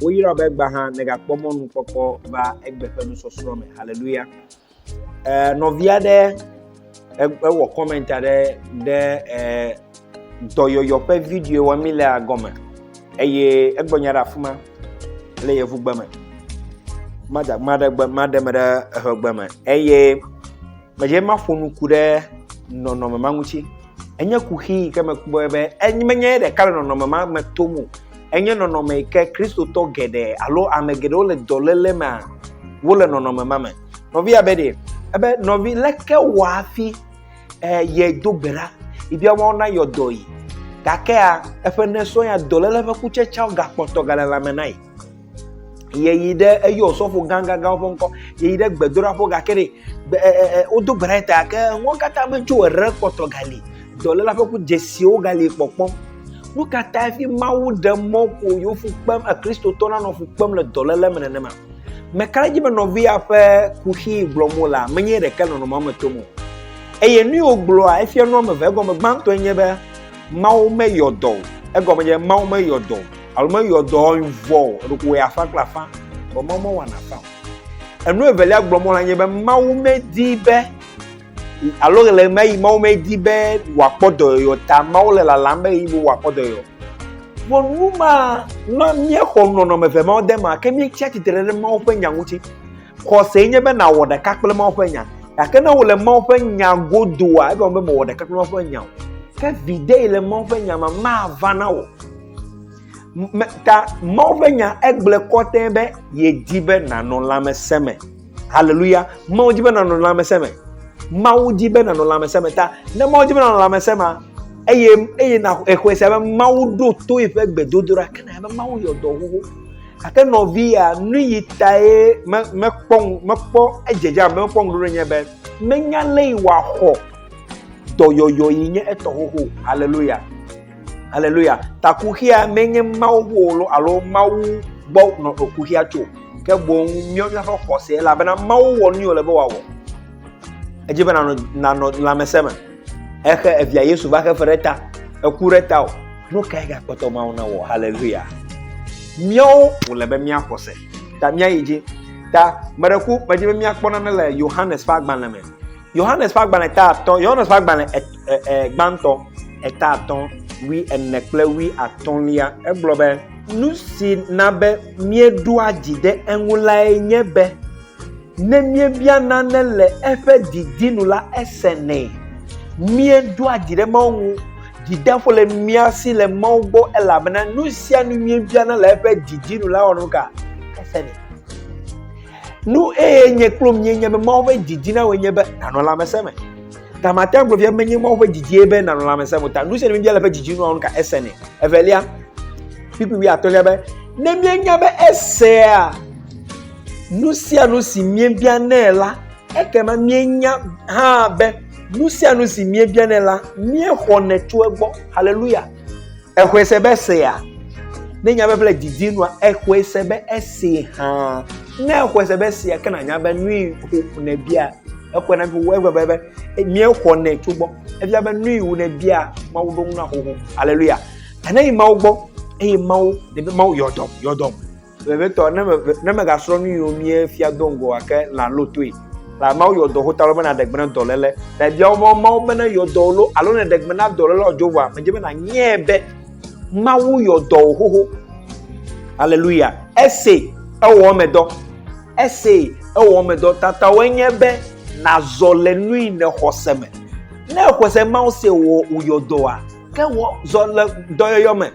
Woyra be gbaha megakpɔ mɔnukpɔkpɔ va egbe ƒe nusɔsrɔ̃ me. Haleluya. ɛɛ nɔvi aɖe ewɔ comment aɖe ɖe ɛɛ dɔyɔyɔ ƒe video wɔm mi lea gɔme eye egbɔ nya ɖe afi ma le yevugbe me. Mada maɖe gbe maɖe me ɖe eʋegbe me eye medze maƒo nuku ɖe nɔnɔme ma ŋuti. Enye kuxi yi ke mekpɔe be enye menye ye ɖeka le nɔnɔme ma me tom o. Enye nɔnɔme yi ke Kristotɔ geɖe alo ame geɖewo le dɔléle me wole nɔnɔme ma me. Nɔvia be ɖe ebe nɔvi leke wɔ hafi eh, ye do gbe ɖa yi bia wɔn na yɔ dɔ yi gakea eƒe nesɔ ya dɔléle ƒe kutsetseawo gakpɔtɔ gale lãme na yi. Yeyi ɖe eyɔ sɔfo gãgãgãwo ƒe ŋkɔ. Yeyi ɖe gbedoɖaƒo gake ɖe gbe e, e, e, wodo gbe ɖa ta gake nuwo katã metso ere kpɔtɔ gali. Dɔléla ƒe ku dzesiwo gali kpɔkpɔ. Nu ka tae fi Mawu ɖe mɔ ƒo yewo fu kpem Kristotɔ nanɔ fu kpem le dɔléle me nenema? Meka ɖe edzi be nɔvia ƒe kuxi gblɔm wole menye ɖeke nɔnɔmea me tom o. Eye nu yiwo gblɔa efia nu ame eve egɔme gbãtɔe nye be Mawu meyɔ dɔ o. Egɔme nye Mawu meyɔ dɔ o. alo meyɔ dɔ vɔ o eɖokò wɔ afã kple afã vɔ mawu mewɔ na afã o enu evelia gblɔ mɔ la nye be mawu medi be alo le me yi mawu medi be wòakpɔ dɔyɔyɔ ta mawu le lalam be yi wòakpɔ dɔyɔyɔ vɔ nu ma na míexɔ nɔnɔme ve mawo de ma ke míetsi atsitre ɖe mawu ƒe nya ŋuti xɔse nye be nàwɔ ɖeka kple mawu ƒe nya gake ne wòle mawu ƒe nya godoa egɔme be mewɔ ɖeka kple mawu ƒe nya o ke viɖe yi le mawu ƒe nya me mava na wò Me ta Mawu ƒe nya egblẽ kɔtɛ be yedi be nànɔ lãmesẽ me. Haleluya. Mawu di be nànɔ lãmesẽ me. Mawu di be nànɔ lãmesẽ me ta. Ne Mawu di be nànɔ lãmesẽ me eye eye na exɔe sia be Mawu ɖo to eƒe gbedodoɖa ke na be Mawu yɔ dɔ xoxo. Gake nɔvia nu yi tae me mekpɔ mekpɔ edzedze abe mekpɔ ŋuɖoɖo nye be menya lé yi wòaxɔ dɔyɔyɔ yi nye etɔ xoxo. Haleluya. Haleluya. Takuxia menye Mawu ƒo alo Mawu gbɔ nɔ ekuxia tso, ke boŋ míɔ míaƒe xɔse elabena Mawu wɔ nu wòle be wòawɔ. Edzi be nanɔ nanɔ lãmesẽ me exe evia Yesu va xe fe ɖe ta, eku ɖe ta o. Nu kae gakpɔtɔ Mawu na wɔ? Haleluya. Míawo wòle be míaxɔse. Ta míayi dzi. Ta meɖe ku medzi be míakpɔ nane le Yohanes ƒe agbalẽ me. Yohanes ƒe agbalẽ ta atɔ, Yohanes ƒe agbalẽ e, e, e, gbãtɔ eta atɔ wi ene kple wi atɔlia, egblɔ be. Nu si na be míeɖoa dzi ɖe eŋu lae nye be ne míebia nane le eƒe didi nu la, esenɛ. Míeɖoa dzi ɖe Mawu ŋu, dzideƒo le mía si le Mawu gbɔ elabena nu sia nu míebiana le eƒe didi nu la wɔnu ka? Esenɛ. Nu eye nye kple mie nye be Mawu ƒe didi na wòe nye be nanɔ lãmesẽ me. Ta mate ŋu agblɔ menye Mawu ƒe didie be nanɔ lãmesẽ me ta nu sia nu bia le ƒe didi nua nu ka ese nɛ. Evelia, kpikpi wi atɔ̃lia be ne mienya be esea nu sia nu si miebia nɛ la, ekema mienya hã be nu sia nu si miebia nɛ la, miexɔnɛ tso egbɔ. Haleluya! Exɔe se be esea. Ne nya be ƒe le didi nua, exɔe se be ese hã. Ne exɔe se be esea, ke nanya be nui ƒo ne bia. Exɔe na ƒo eƒe be be mia xɔ ne tso gbɔ. Ebia be nui wu ne bia mawu ɖo ŋu na xoxo. Aleluya. Ane yi mawu gbɔ eye mawu ne be mawu yɔdɔm yɔdɔm. Vevitɔ, ne, ne mègasrɔ̃ nu yiwo mie fia do ŋgɔ gake lã ló toe. La Mawu yɔ dɔ hota lɔ be naɖe gbe na dɔléle. La bia wo be Mawu be ne yɔ dɔ ló alo ne ɖe gbe na dɔléle o Jehowa, medze be nanyae be Mawu yɔ dɔ wò xoxo. Aleluya. Ese ewɔ me dɔ. Ese ewɔ me dɔ tatawɔe nye be nazɔ le nui ne xɔse me. Ne xɔse Mawu se wò wòyɔ dɔa, ke wɔ zɔ le dɔyɔyɔ me.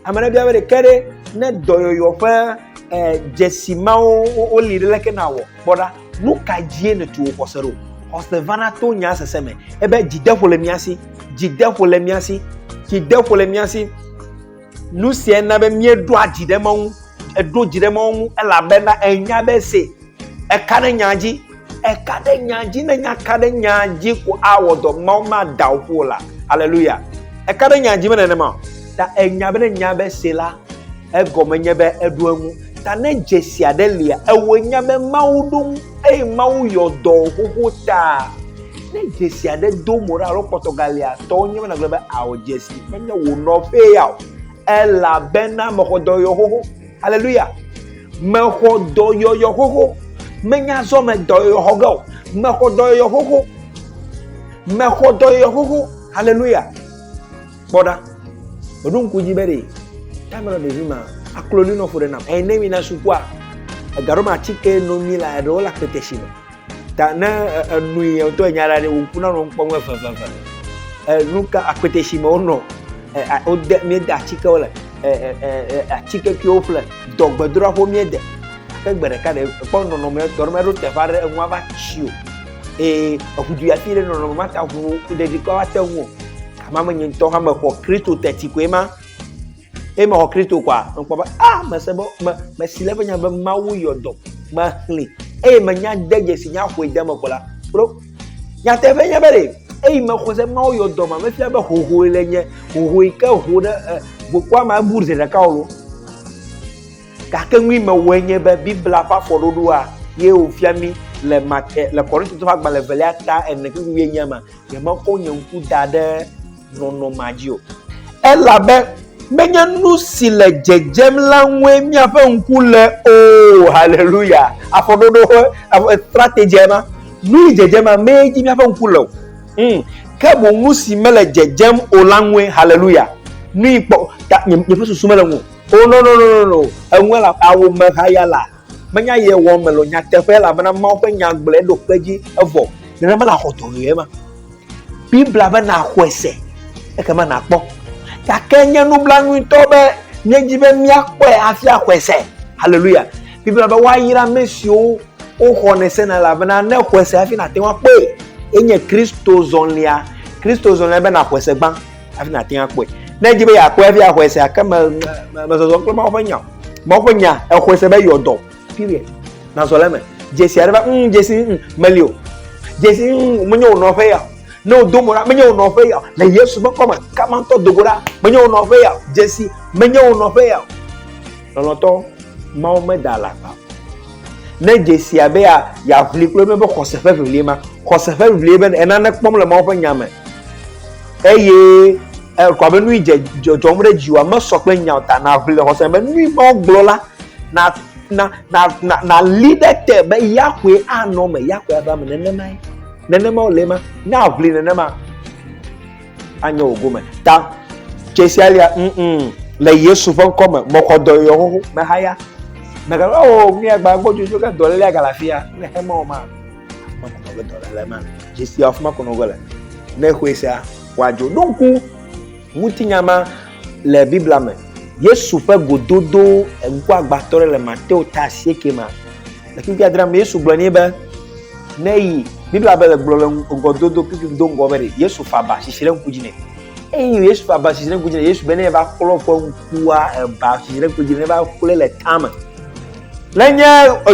Ame aɖe bia be ɖeke ɖe ne dɔyɔyɔ ƒe eh, dzesi mawo woli ɖe leke nawɔ kpɔ ɖa nu ka dzie nètu wò xɔse ɖo xɔse vana to nya sese me ebe dzideƒo le mía si dzideƒo le mía si dzideƒo le mía si nu sia na be míeɖoa dzi ɖe mawu eɖo dzi ɖe mawu ŋu elabena enya be se Eka ɖe nyaa dzi. Eka ɖe nyaa dzi. Ne nyaka ɖe nyaa dzi ko awɔ dɔ. Mawu maɖe awu ƒo la. Aleluya. Eka ɖe nyaa dzi me nenema o. Ta enya be ne nya be se la, egɔme nye be eɖo eŋu. Ta ne dzesi aɖe lia, ewɔe nya be Mawu ɖo ŋu eye Mawu yɔ dɔ xoxo ta. Ne dzesi aɖe do mo ɖa alo kpɔtɔ galia, tɔ wonye be nagblɔ be ao dzesi menye wò nɔƒee ya o. Elabena mexɔ dɔ yɔ xoxo. Aleluya. Mexɔ dɔyɔyɔ xoxo. Menya zɔ me dɔyɔyɔ xɔ ge o. Mexɔ dɔyɔyɔ xoxo. Mexɔ dɔyɔyɔ xoxo. Aleluya. Kpɔ ɖa. Meɖo ŋku dzi be ɖe taim nɔ ɖevi ma akloli nɔ ƒo ɖe nam. Eye ne mi na sukua, ega ɖo ma atike no mi la eɖewo le akpete si me. ta ne enu yi ŋutɔ nya ɖa ɖe wòku na nɔ ŋkpɔ ŋu eveveve enu ka akpete si me wonɔ wode míede atikewo le atike ke woƒle dɔgbedroa ƒo míede ke gbe ɖeka ɖe kpɔ nɔnɔme tɔ ɖe meɖo teƒe aɖe eŋua va tsi o eye eŋudu ya fi ɖe nɔnɔme ma ta ŋu ɖeɖi kɔ ate ŋu o kama me nye ŋutɔ hã mexɔ kristo teti koe ma Eye mexɔ Kristo kɔa, mekpɔ be, ah, mese be, me, mesi le eƒe nya be Mawu yɔ dɔ, mexlẽ, eye menya de dzesi nya ƒoe de me ko la, bro, nyateƒe nye be ɖe, eye mexɔ se Mawu yɔ dɔ ma, mefia be hohoe le nye, hohoe ke ho ɖe eh, gbokua ma ebu zi ɖeka o. Gake nui mewɔe nye be Biblia ƒe afɔɖoɖoa ye wòfia mi le mate le kɔrintitɔ ƒe agbalẽ velia ta ene kple wuienyi ma nyemekɔ nye ŋku da ɖe nɔnɔmea dzi o. Elabe menye nu si le dzedzem la ŋue míaƒe ŋku le o. Haleluya! Afɔɖoɖo ƒe strategyia ma. Nu si dzedzem la mee dzi míaƒe ŋku le o. Hmm. Ke boŋ nu si mele dzedzem o la ŋue. Haleluya! Nui kpɔ ta nye, nye ƒe susu mele ŋu o. Oh, no, no, no, no, no. Eŋue la, awomehaya la. Menya ye wɔ me lo nyateƒe elabena Mawu ƒe nya gblɔe ɖo kpe dzi evɔ. Nene mele axɔ dɔ ɣi ema. Biblia be naxɔe se ekema nakpɔ. Gake nye nublanui ŋutɔ be míedi be míakpɔe hafi axɔe se. Haleluya. Biblia be woayra ame siwo woxɔnɛ sena elabena ne xɔe se hafi nate ŋu akpɔe. Enye Kristo zɔlia. Kristo zɔlia be naxɔe se gbã. hafi nàte ŋu akpɔe ne edzi be yeakpɔe hafi axɔe se ake me mezɔzɔ kple mawo ƒe nya mawo ƒe nya exɔe se be yɔ dɔ period nazɔ le eme dzesi aɖe va mm dzesi mm meli o dzesi mm menye wò nɔƒe ya ne wòdo mo ɖa menye wò nɔƒe ya le yesu ƒe kɔme kama ŋutɔ dogo ɖa menye wò nɔƒe ya dzesi menye wò nɔƒe ya lɔlɔtɔ mawo meda alakpa ne dzesi abe yeaʋli kple ebe xɔse ƒe ʋiʋli ma xɔse ƒe ʋiʋli be enane kpɔm le mawo ƒe nya me Eye ekɔ be nui dze dzɔdzɔm ɖe dziwòa mesɔ kple nya o ta naʋli le xɔse be nui mawo gblɔ la na na na na nali ɖe te be Yahweh anɔ me Yahweh ava me nenemae nenema wòle ma ne aʋli nenema anye wò gome ta tsesia lia mm mm le Yesu ƒe ŋkɔ me mɔxɔdɔ yɔ xoxo mehaya mɛgalo o miagba gbɔdzodzo ke dɔlélia galafi ya ne xema o ma. dzesi afi ma kɔnɔ ge le ne xɔe sia wòadzo ɖo ŋku ŋutinya ma le biblia me yesu ƒe gododo ŋkuagbãtɔ ɖe le mateo ta asieke ma le kpekpe adre me yesu gblɔ nɛ be ne yi biblia be le gblɔ le ŋgɔdodo kpekpe do ŋgɔ be ɖe yesu fa ba sisi ɖe ŋku dzi nɛ eye yesu fa ba sisi ɖe ŋku dzi nɛ yesu be ne va kplɔ ƒe ŋkua eba sisi ɖe ŋku dzi ne va kplɔe le tame Nenye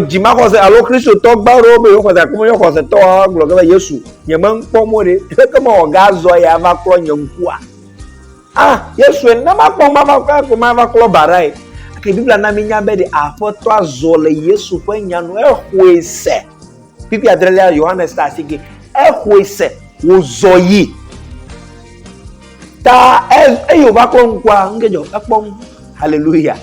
dzimaxɔse alo Kristotɔ gbã aɖewo be yewo xɔse gake menye xɔsetɔwoa, woagblɔ ge be, Yesu, nyemekpɔ mɔ ɖe, leke mewɔ gazɔ ye ava klɔ nye ŋkua? Ah, Yesue, na makpɔ mava ko mava klɔ ba ɖae. Ke Biblia na mínya be ɖe Aƒetɔa zɔ le Yesu ƒe nya nu, exɔe se. Pipi adrelia Yohanes ta asi ge. Exɔe se wòzɔ yi. Ta eye wòva kpɔ ŋkua, nu ke dzɔ ekpɔ ŋu. Haleluya.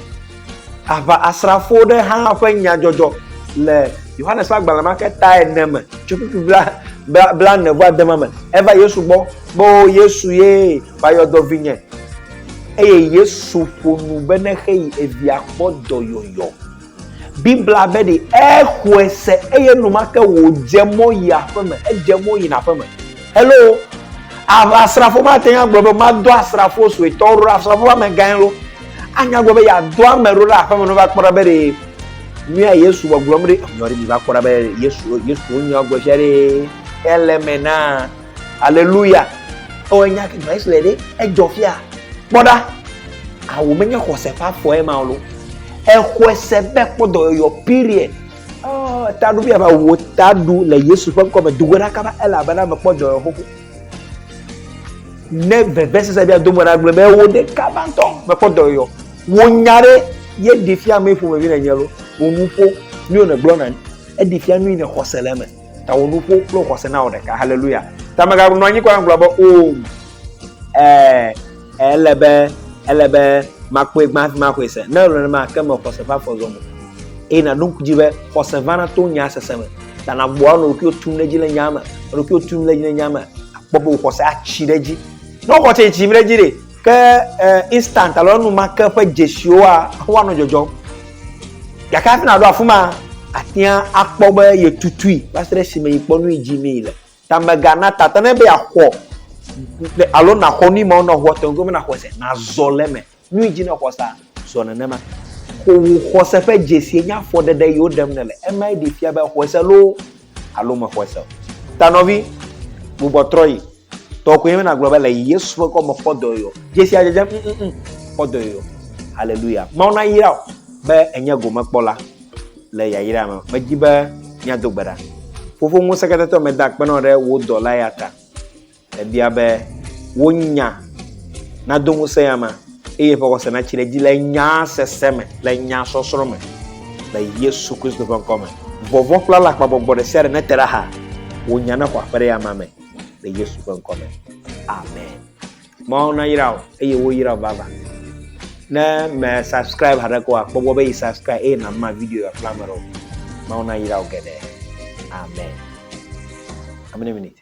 Aʋa asrafo ɖe hã ƒe nyadzɔdzɔ le Yohanes ƒe agbalẽ ma ke ta ene me tso pipi bla bla bla ne vɔ adema me. Eva Yesu gbɔ be o Yesu ye va yɔ dɔ vinye. Eye Yesu ƒo nu be ne xeyi evia kpɔ dɔyɔyɔ. Biblia be ɖi exɔe se eye enumake wòdze mɔ yi aƒe me. Edze mɔ yina aƒe me. Hello! Asrafo mate ŋu agblɔ be madɔ asrafo suetɔwo ɖo ɖe asrafo ƒe amegãe ɖo. Anya gblɔ be yeadɔ ame ɖo ɖe aƒeme ne wova kpɔ ɖa be ɖe nuya Yesu gbɔgblɔm ɖe enyɔ ɖe miva kpɔ ɖa be Yesu Yesu nya gblɔ sia ɖe ele me na. Aleluya. Ewɔ enya gbã Yesu le ɖe edzɔ fia. Kpɔ ɖa. Awu menye xɔse ƒe afɔe ma lo. Exɔe se be kpɔ dɔyɔyɔ period. Oh, ta ɖu bia va wo ta ɖu le Yesu ƒe ŋkɔ me do go ɖaka va elabena mekpɔ dɔyɔyɔ xoxo. Ne vevesese bia do mo na gblɔ be wo ɖeka va ŋutɔ mekpɔ dɔyɔyɔ. Wo nya ɖe ye ɖe fia me ƒomevi le nye lo. Wo nuƒo mi wo ne gblɔ na ni. Eɖe fia nu yi ne xɔse le eme. Ta wò nuƒo kple xɔse na wò ɖeka. Haleluya. Ta meganɔ anyi kɔ agblɔ be o. Oh, eh, eh, ele be, ele be makpɔe gbã hafi maxɔe se. Ne ele nenema ke me xɔse va fɔ zɔ mo. Eye naɖo ŋku dzi be xɔse vana to nya sese me. Ta nagbɔa nɔ ɖokuiwo tum ɖe edzi le nya me. Ɖokuiwo tum ɖe edzi le nya me. Akpɔ be wò xɔse atsi ɖe edzi. Ne wò xɔse tsi ɖe edzi ɖe, Ke instant alo enumake ƒe dzesiwoa, woanɔ dzɔdzɔm. Gake hafi nàɖo afi ma, àtia akpɔ be yetutui va se ɖe esime yi kpɔ nu yi dzi mee le. Ta mègana tata ne be yeaxɔ alo nàxɔ nu yi me wonɔ ŋua tɔgbi be nàxɔe se, nàzɔ le eme. Nu yi dzi nèxɔ sea, zɔ nenema. Xɔwò xɔse ƒe dzesie nye afɔɖeɖe yi woɖem nèle. Emae ɖee fia be èxɔe se loo alo mexɔe se o. Ta nɔvi, gbugbɔ trɔ yi. Tɔ koe mena gblɔ be le Yesu ƒe kɔme kpɔ dɔ yɔ. Dzesi adzedzem, mm, mm, mm, kpɔ dɔ yɔ. Haleluya. Mawu na yra o be enye gome kpɔ la le yayra me. Medi be miado gbe ɖa. Fofo ŋusẽketɔtɔ meda akpe nɔ ɖe wò dɔla ya ta. Ebia be, Wò nya nado ŋusẽ ama, eye ƒe xɔse natsi ɖe edzi le nyaa sese me, le nyaa sɔsrɔ̃ me, le Yesu Kristo ƒe ŋkɔ me. Vɔvɔ̃ kple alakpagbɔgbɔ ɖe sia ɖe nete ɖe aha, wò nya nexɔ aƒe ɖe ama me le Yesu ƒe ŋkɔ me. Amen. Mawu nayra wò eye woyra wò vavã. Ne me subscribe haɖe ko akpɔ gbɔ be yi subscribe eye nàma video ya fla ame aɖewo. Mawu nayra wò geɖe. Amen. How many minutes?